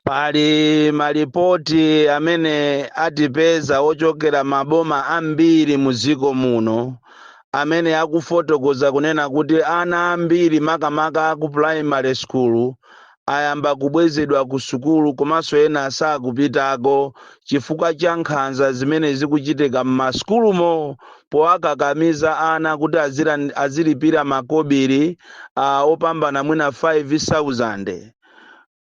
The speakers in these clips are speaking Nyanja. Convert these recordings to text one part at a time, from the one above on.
pali malipoti amene atipeza ochokera maboma ambiri mu dziko muno amene akufotokoza kunena kuti ana ambiri makamaka aku primary school ayamba kubwezedwa ku sukulu komanso ena sakupitako chifukwa cha nkhanza zimene zikuchitika m'masukulumo powakakamiza ana kuti azilan- azilipira makobiri ah, opambana mwina 5000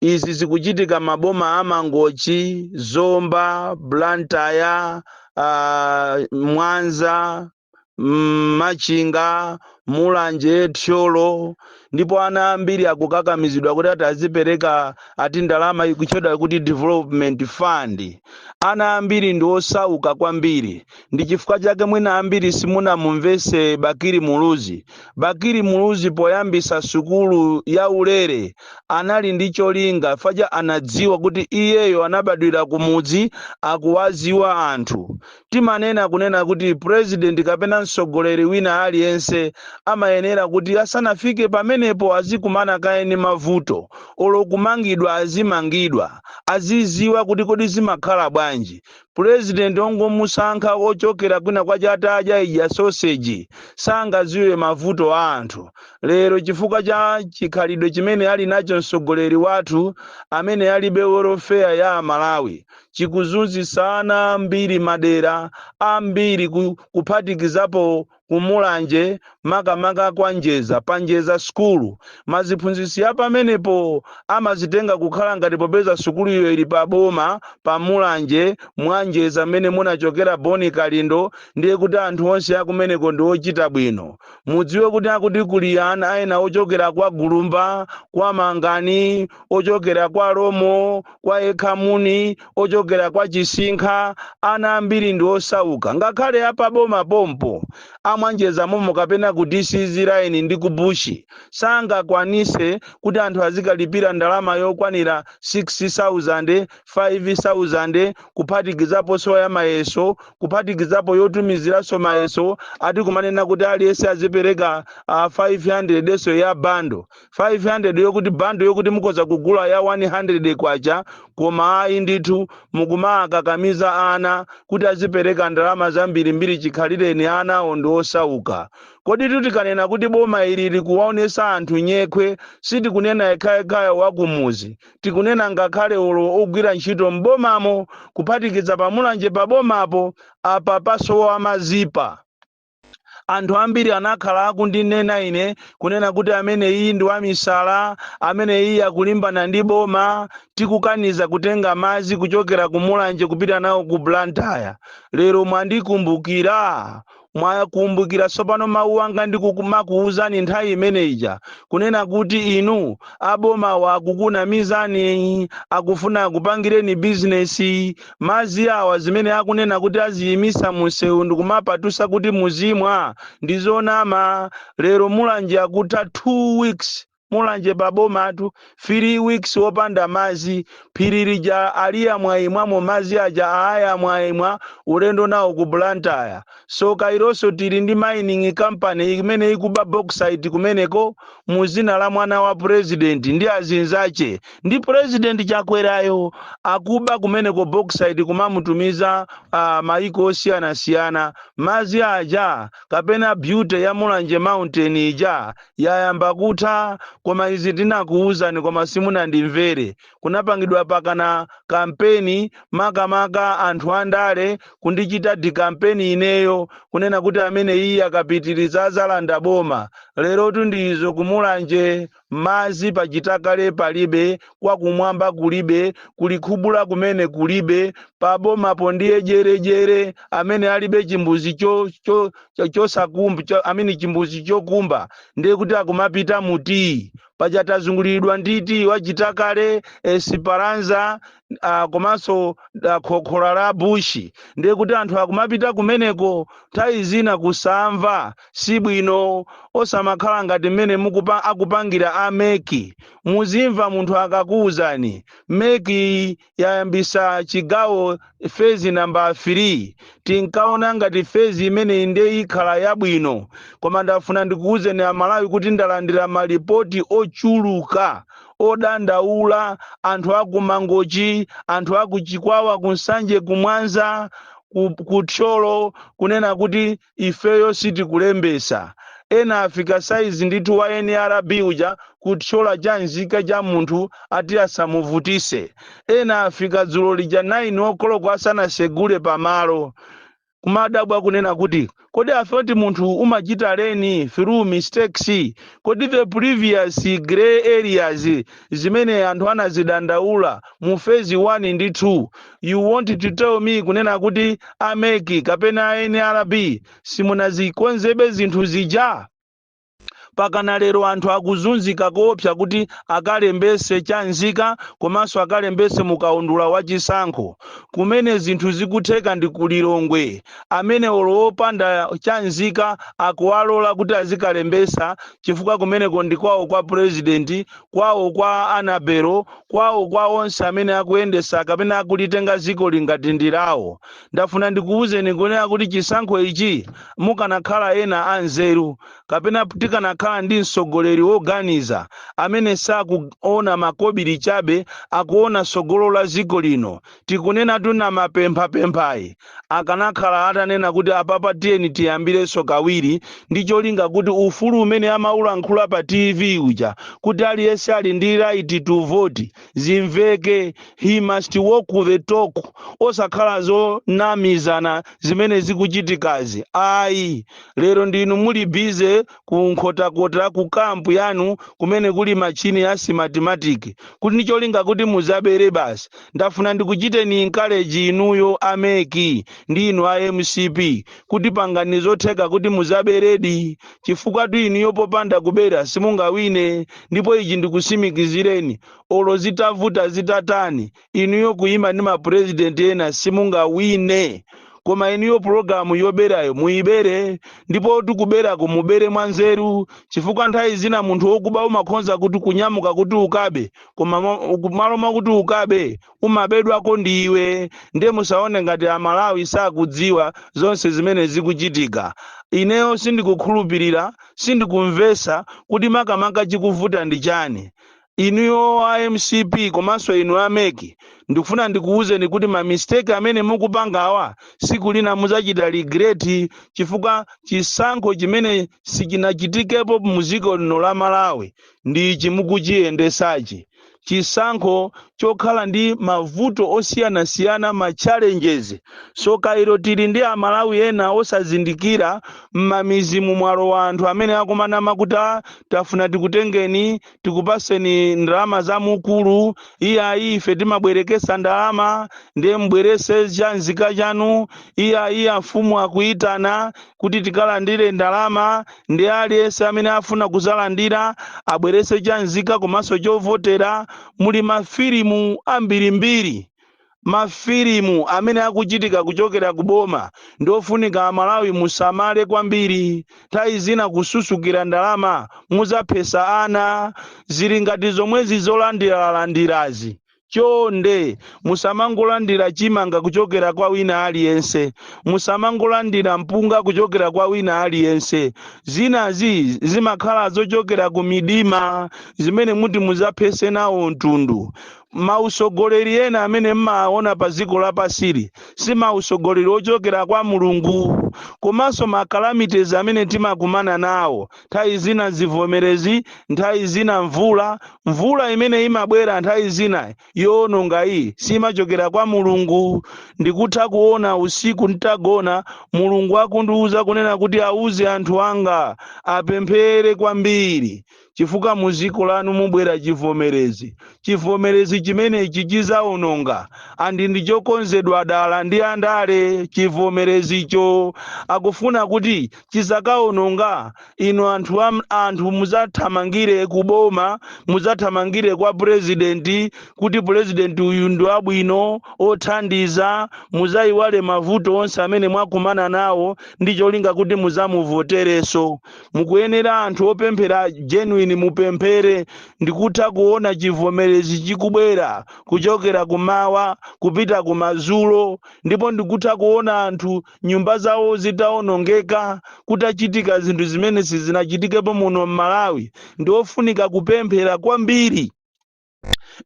izi zikuchitika maboma a mangochi zomba blantyre uh, mwanza mm, machinga mulanje thyolo ndipo ana ambiri akukakamizidwa kuti ati azipereka ati ndalama ikuchedwa kuti development fund ana ambiri ndi osauka kwambiri ndi chifukwa chake mwina ambiri simunamumvese bakiri muluzi bakiri muluzi poyambisa sukulu ya ulere anali ndi cholinga faja anadziwa kuti iyeyo anabadwira kumudzi akuwaziwa anthu timanena kunena kuti president kapena mtsogoleri wina aliyense amayenera kuti asanafike pamenepo azikumana kaye ndi mavuto olo kumangidwa azimangidwa aziziwa kuti kodi zimakhala bwanji president ongomusankha ochokera kwina kwache atadya ija soseji sangaziwe mavuto a anthu lero chifukwa cha chikhalidwe chimene ali nacho mtsogoleri wathu amene alibe welfare ya amalawi chikuzunzitsa ana ambiri madera ambiri ku- kuphatikizapo kumulanje makamaka kwa njeza pa njeza sukulu maziphunzitsi ya pamenepo amazitenga kukhala ngati popeza sukuluyo ili pa boma pa mulanje mwa njeza m'mene munachokera boni kalindo ndiye kuti anthu onse akumeneko ndi ochita bwino mudziwe kuti akuti kuli ana ena ochokera kwa gulumba kwa mangani ochokera kwa romo kwa ekhamuni ochokera kwa chisinkha ana ambiri ndi osauka ngakhale apaboma pompo amwanjeza momo kapena ku dcz line ndi ku bushi sangakwanise kuti anthu azikalipira ndalama yokwanira 6000 5000 kuphatikizapo nso ya mayeso kuphatikizapo yotumiziranso mayeso ati kumanena kuti aliyense azipereka uh, 500 yenso ya bando 500 yokuti bando yokuti mukhoza kugula ya 100 kwacha koma ayi ndithu mukumakakamiza ana kuti azipereka ndalama zambirimbiri chikhalireni ana awo ndi osauka koditu tikanena kuti boma ili likuwaonesa anthu nyekhwe sitikunena yekhayekhaye wakumuzi tikunena ngakhale olo ogwira ntchito m'bomamo kuphatikiza pamulanje pabomapo apa pasowa mazipa Anthu ambiri anakhala akundinena ine, kunena kuti, Ameneyi ndi wamisala, amene iye akulimbana ndi boma, tikukaniza kutenga madzi kuchokera ku Mulanje kupita nawo ku Blantyre. Lero mwandikumbukira? Mwakumbukira tsopano mawu anga ndikumakuuzani nthawi imene ija, kunena kuti inu, abomawa akukunamizani, akufuna akupangireni bizinesi. Madzi awa zimene akunena kuti aziyimisa munsewu ndi kumapatusa kuti muzimwa ndi zonama lero Mulanje akutha 2 weeks Mulanje pa bomatu 3 weeks wopanda madzi phiri lija aliimwaimwamo madzi aja aamwaimwa ulendo nawo ku Blantyre tsoka ilonso tili ndi mining company imene ikuba bauxite kumeneko mudzina la mwana wa president ndi azinzache ndi president Chakwerayo akuba kumeneko bauxite kumamutumiza uh, maiko osiyanasiyana madzi aja kapena beauty ya mulanje mountain ija yayamba kutha koma izi tinakuwuzani koma simunandimvere kunapangidwa pakana kampeni makamaka anthu andale kundichita dikampeni ineyo kunena kuti amene iye akapitiriza adzalanda boma lerotu ndi izo kumulanje Madzi pa chitakale palibe, kwa kumwamba kulibe, ku Likhubula kumene kulibe, pa bomapo ndiye jere jere amene alibe chimbuzi cho cho cho chosakumba cho, amene chimbuzi chokumba ndiye kuti akumapita mu tiyi paja tazunguliridwa ndi tiyi wa chitakale Esperanza uh, komanso uh, Khokhola bushi ndiye kuti anthu akumapita kumeneko nthawi zina kusamva si bwino osamakhala ngati mmene mukupa- akupangira a meki muzimva munthu akakuwuzani meki yayambisa chigawo fezi namba 3 tinkaona ngati fezi imene ndiye ikhala yabwino koma ndafuna ndikuwuzeni amalawi kuti ndalandira malipoti ochuluka odandaula, anthu a ku Mangochi, anthu a ku Chikwawa, ku Nsanje, ku Mwanza, ku, ku Thyolo kunena kuti ifeyo sitikulembesa. Ena afika saizi ndithu wa NRB uja kuthyola cha nzika cha munthu ati asamuvutise. Ena afika dzulo lija 9 okoloko asanasegule pamalo. kumadabwa kunena kuti kodi i thought munthu umachita leni through mistakes kodi the previous grey areas zimene anthu anazidandaula mu phase 1 ndi 2 you want to tell me kunena kuti ameki kapena a nrb simunazikonzebe zinthu zija Pakana lero anthu akuzunzika koopsa kuti akalembetse cha nzika komanso akalembetse mu kaundula wa chisankho. Kumene zinthu zikutheka ndi ku Lilongwe, amene olo opanda cha nzika akuwalola kuti azikalembetsa chifukwa kumeneko ndi kwawo kwa president, kwawo kwa Annabel, kwawo kwa onse amene akuyendetsa kapena akulitenga dzikoli ngati ndi lawo. ndafuna ndikuwuzeni kunena kuti chisankho ichi mukanakhala ena anzeru kapena tikanakhala ndi mtsogoleri woganiza amene sakuona makobiri chabe akuona tsogolo la dziko lino tikunena tuna mapemphapemphayi akanakhala atanena kuti apapa tiyeni tiyambirenso kawiri ndi cholinga kuti ufulu umene amaulankhula pa tv uja kuti aliyense ali ndi right to vote zimveke he must walk the talk osakhala zonamizana zimene zikuchitikazi ayi lero ndinu muli busy ku nkhotakota ku kampu yanu kumene kuli machini ya smartmatic kuti ndi cholinga kuti muzabere basi ndafuna ndikuchiteni encourage inuyo a mec ndi inu a mcp kuti pangani zotheka kuti muzaberedi chifukwatu inuyo popanda kubera simungawine ndipo ichi ndikusimikizireni olo zitavuta zitatani inuyo kuyima ndi mapurezidenti ena simungawine koma inuyo pulogalamu yoberayo muyibere ndipo tikuberako mubere mwanzeru chifukwa nthawi zina munthu wokuba umakhonza kuti kunyamuka kuti ukabe koma malo mwakuti ukabe umabedwako ndi iwe ndiye musaone ngati amalawi sakudziwa zonse zimene zikuchitika ineyo sindikukhulupirira sindikumvesa kuti makamaka chikuvuta ndi chani inuyo a mcp komanso inu a mec ndikufuna ndikuwuzeni kuti ma mistake amene mukupangawa siku lina muzachita regret chifukwa chisankho chimene sichinachitikepo muziko lino la malawi ndi ichi mukuchiyendesachi chisankho chokhala ndi mavuto osiyanasiyana ma challenges soka ilo tili ndi amalawi ena osazindikira m'mamizimu mwalowa anthu amene akumanama kuti "Ah, tafuna tikutengeni tikupaseni ndalama za mukulu iyayi ife timabwerekesa ndalama ndiye mbwerese cha nzika chanu iyayi amfumu akuyitana kuti tikalandire ndalama ndi aliyense amene afuna kuzalandira abwerese cha nzika komanso chovotera muli mafilimu ambirimbiri mafilimu amene akuchitika kuchokera ku boma ndi ofunika amalawi musamale kwambiri nthawi zina kususukira ndalama muzaphesa ana zili ngati zomwezi zolandiralandirazi Chonde, musamangolandira chimanga kuchokera kwa wina aliyense. Musamangolandira mpunga kuchokera kwa wina aliyense. Zinazi zimakhala zochokera ku midima zimene muti muzaphese nawo mtundu. Mausogoleri ena amene mmaona pa dziko lapansili si mausogoleri ochokera kwa Mulungu. Komanso ma calamities amene timakumana nawo nthawi zina zivomerezi nthawi zina mvula mvula imene imabwera nthawi zina yoononga iyi simachokera kwa mulungu ndikutha kuona usiku nditagona mulungu akundiuza kunena kuti auze anthu anga apemphere kwambiri chifukwa mu dziko lanu mubwera chivomerezi chivomerezi chimenechi chizaononga andi ndi chokonzedwa dala ndi andale chivomerezicho akufuna kuti chizakaononga inu anthu, anthu muzathamangire ku boma muzathamangire kwa president kuti president uyu ndi wabwino othandiza muzayiwale mavuto onse amene mwakumana nawo ndi cholinga kuti muzamuvotereso mukuyenera anthu opemphera genuine mupemphere ndikutha kuona chivomerezi chikubwera kuchokera kumawa kupita kumazulo ndipo ndikutha kuona anthu nyumba zawo zitawonongeka kutachitika zinthu zimene sizinachitikepo muno m'malawi ndiofunika kupemphera kwambiri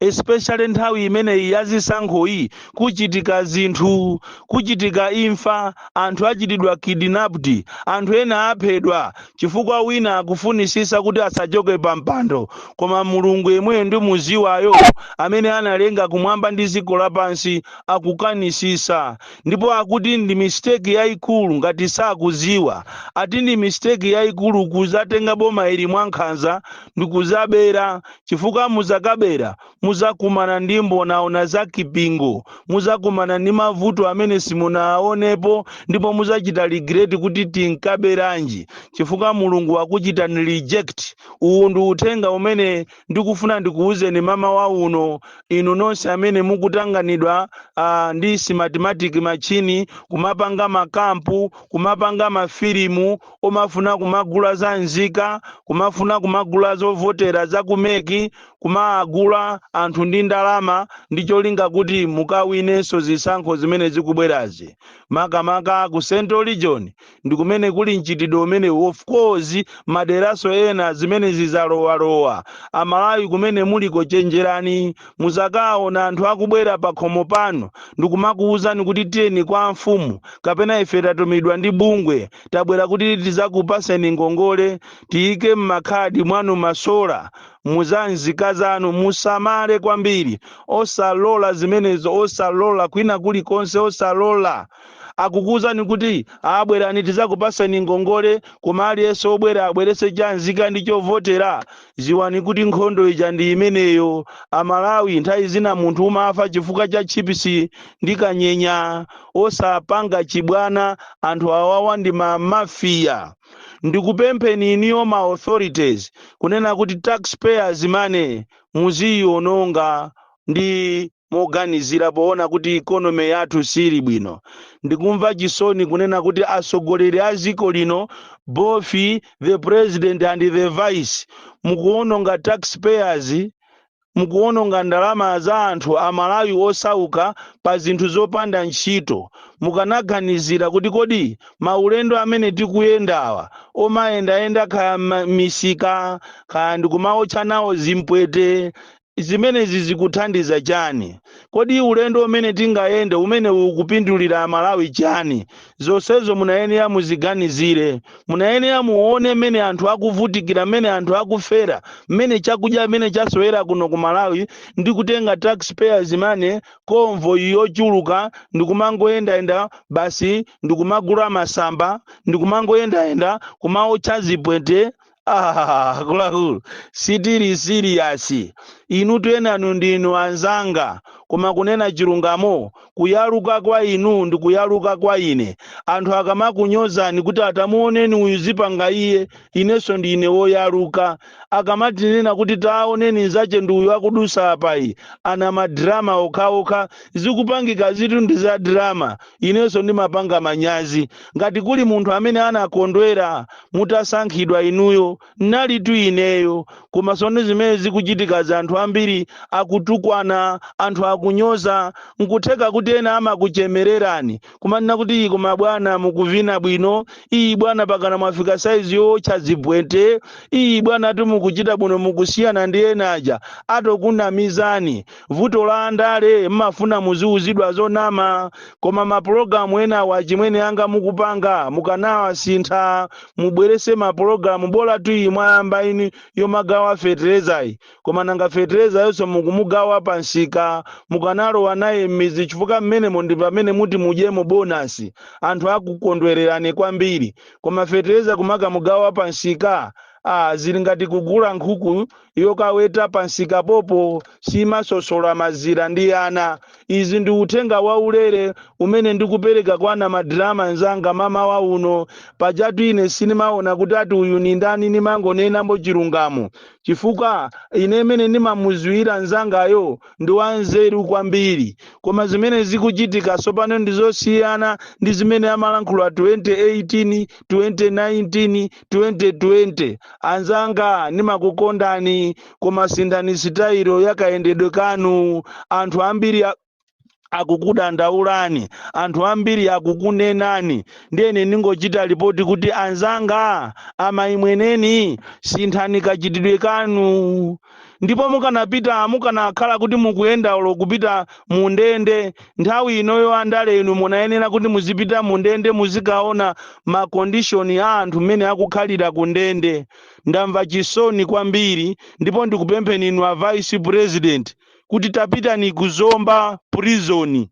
especially nthawi imeneyi ya zisankhoyi kuchitika zinthu kuchitika imfa anthu achitidwa kidnapped anthu ena aphedwa chifukwa wina akufunisisa kuti asachoke pa mpando koma mulungu yemweyo ndimuziwayo amene analenga kumwamba ndi dziko lapansi akukanisisa ndipo akuti ndi mistake yaikulu ngati sakuziwa ati ndi mistake yaikulu kuzatenga boma ili mwankhanza ndikuzabera chifukwa muzakabera muzakumana ndi mbonaona za kipingo muzakumana ndi mavuto amene simunaonepo ndipo muzachita regret kuti tinkaberanji chifukwa mulungu wakuchitani reject uwu ndi uthenga umene ndikufuna ndikuwuzeni mmawa uno inu nonse amene mukutanganidwa uh, ndi smartmatic machine kumapanga makampu kumapanga mafilimu omafuna kumagula za nzika kumafuna kumagula zovotera za ku MEC kumagula anthu ndi ndalama ndi cholinga kuti mukawinenso zisankho zimene zikubwerazi makamaka ku central region ndi kumene kuli mchitidwe umene of course maderaso ena zimenezi zizalowalowa amalawi kumene muliko chenjerani muzakaona anthu akubwera pakhomo panu ndikumakuwuzani kuti tiyeni kwa amfumu kapena ife tatumidwa ndi bungwe tabwera kuti tizakupaseni ngongole tiyike mmakhadi mwanu masola muzanzika zanu musamale kwambiri osalola zimenezo osalola kwina kulikonse osalola akukuuzani kuti aa bwerani tizakupaseni ngongole koma aliyense obwera abwerese cha nzika ndi chovotera ziwani kuti nkhondo ija ndi imeneyo amalawi nthawi zina munthu umafa chifukwa cha chipisi ndi kanyenya osapanga chibwana anthu awawa ndi ma mafiya ndikupempheni iniyo ma authorities kunena kuti taxpayers money muziyiononga ndi moganizira poona kuti economy yathu siili bwino. Ndikumva chisoni kunena kuti atsogoleri a dziko lino both the president and the vice mukuononga tax payers mukuononga ndalama za anthu amalawi osauka pa zinthu zopanda ntchito mukanaganizira kuti kodi maulendo amene tikuyendawa omayendayenda kaya misika kaya ndikumaotcha nawo zipwete Zimenezi zikuthandiza chani? Kodi ulendo umene tingayende umenewu ukupindulira a Malawi chani? Zonsezo munayenera muziganizire. Munayenera muone mmene anthu akuvutikira, mmene anthu akufera, mmene chakudya mmene chasowera kuno ku Malawi ndi kutenga tax payers money, convoy yochuluka ndikumangoyendayenda basi ndikumagula masamba ndikumangoyendayenda kumaotcha zipwete Ah, akuluakulu sitili siriyasi inu tiyenanu ndinu anzanga koma kunena chilungamo kuyaluka kwa inu ndi kuyaluka kwa ine anthu akamakunyozani kuti aa tamuoneni uyu zikupanga iye inenso ndine woyaluka akamatinena kuti taoneni nzache ndi uyu akudusa apayi aa ndi madrama okhaokha zikupangikazitu ndi za drama inenso ndimapanga manyazi ngati kuli munthu amene anakondwera mutasankhidwa inuyo nalitu ineyo koma sono zimene zikuchitikazi anthu ambiri akutukwana anthu akunyoza nkutheka kuti ena amakuchemererani kumanena kuti iyi koma bwana mukuvina bwino iyi bwana pakana mwafika saizi yootcha zipwete iyi bwana ati mukuchita bwino mukusiyana ndi ena aja atokunamizani vuto la andale mmafuna muziuzidwa zonama koma mapulogalamu enawa achimwene anga mukupanga mukanawasintha mubwerese mapulogalamu bolatu iyi mwayamba ini yomagawa feterezayi koma nanga feterezayonso mukumugawa pansika mukanalowa naye m'midzi chifukwa mmenemo ndi pamene muti mudyemo bonasi anthu akukondwererani kwambiri koma fetereza kumakamugawa pansika ah, zili ngati kugula nkhuku yokaweta pansikapopo simaswetsa mazira ndi ana izi ndi uthenga waulere umene ndikupereka kwa ana madrama nzanga mamawa uno pajatu ine sindimaona kuti ati uyu ni ndani ndimangonenambo chilungamo chifukwa ine mmene ndimamuziwira nzangayo ndi wanzeru kwambiri koma zimene zikuchitika tsopano ndi zosiyana ndi zimene amalankhula 2018 2019 2020 anzanga ndimakukondani koma sinthani sitayilo ya kayendedwe kanu anthu ambiri a- akukudandaulani anthu ambiri akukunenani ndiyene ndingochita lipoti kuti anzanga a maimweneni sinthani kachitidwe kanu ndipo mukanapita mukanakhala kuti mukuyenda olo kupita mu ndende nthawi inoyo andale inu munayenera kuti muzipita mu ndende muzikaona makondishoni a anthu mmene akukhalira ku ndende ndamva chisoni kwambiri ndipo ndikupempheni inu a vice president kuti tapitani ku zomba prison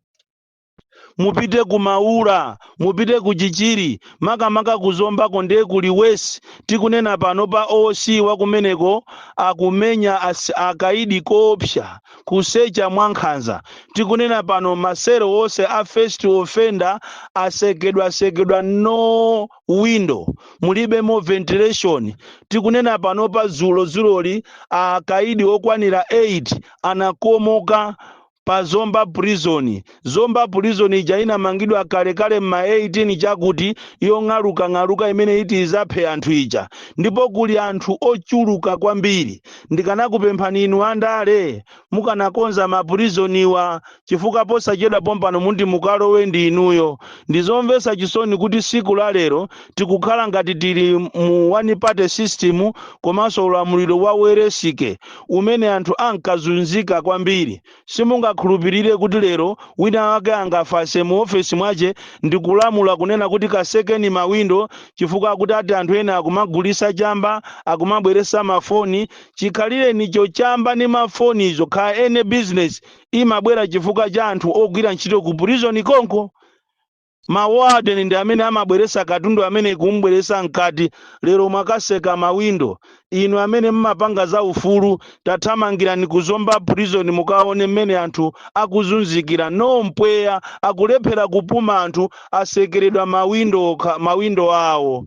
mupite ku maula mupite ku chichiri makamaka kuzombako ndiye kuli wesi tikunena pano pa oc wakumeneko akumenya as, akaidi koopsa kusecha mwankhanza tikunena pano masero onse a first offender asekedwasekedwa no window mulibemo ventilation tikunena pano pa zulozuloli akaidi okwanira 8 anakomoka pa zomba prison. Zomba prison ija inamangidwa kale kale mma 18 chakuti yong'alukang'aluka imene iti izaphe anthu ija. Ndipo kuli anthu ochuluka kwambiri. Ndikanakupemphani inu andale mukanakonza ma prisoniwa chifukwa posachedwa pompano muti mukalowe ndi inuyo. Ndizomvesa chisoni kuti siku la lero tikukhala ngati tili mu one party system komanso ulamuliro wa welensike. umene anthu ankazunzika kwambiri. Simungakhulupirire kuti lero winawake angafase mu ofesi mwache ndikulamula kunena kuti kasekeni mawindo chifukwa kuti ati anthu ena akumagulisa chamba, akumabweresa ma foni, chikhalirenicho chamba ndi ma fonizo kha any business imabwera chifukwa cha anthu ogwira ntchito ku prison konko. Ma warden ndi amene amabweresa katundu amene kum'bweresa mkati, lero mwakaseka ma window, inu amene mmapanga za ufulu tathamangirani ku Zomba prison mukaone mmene anthu akuzunzikira, no mpweya, akulephera kupuma anthu asekeredwa ma window okha, ma window awo,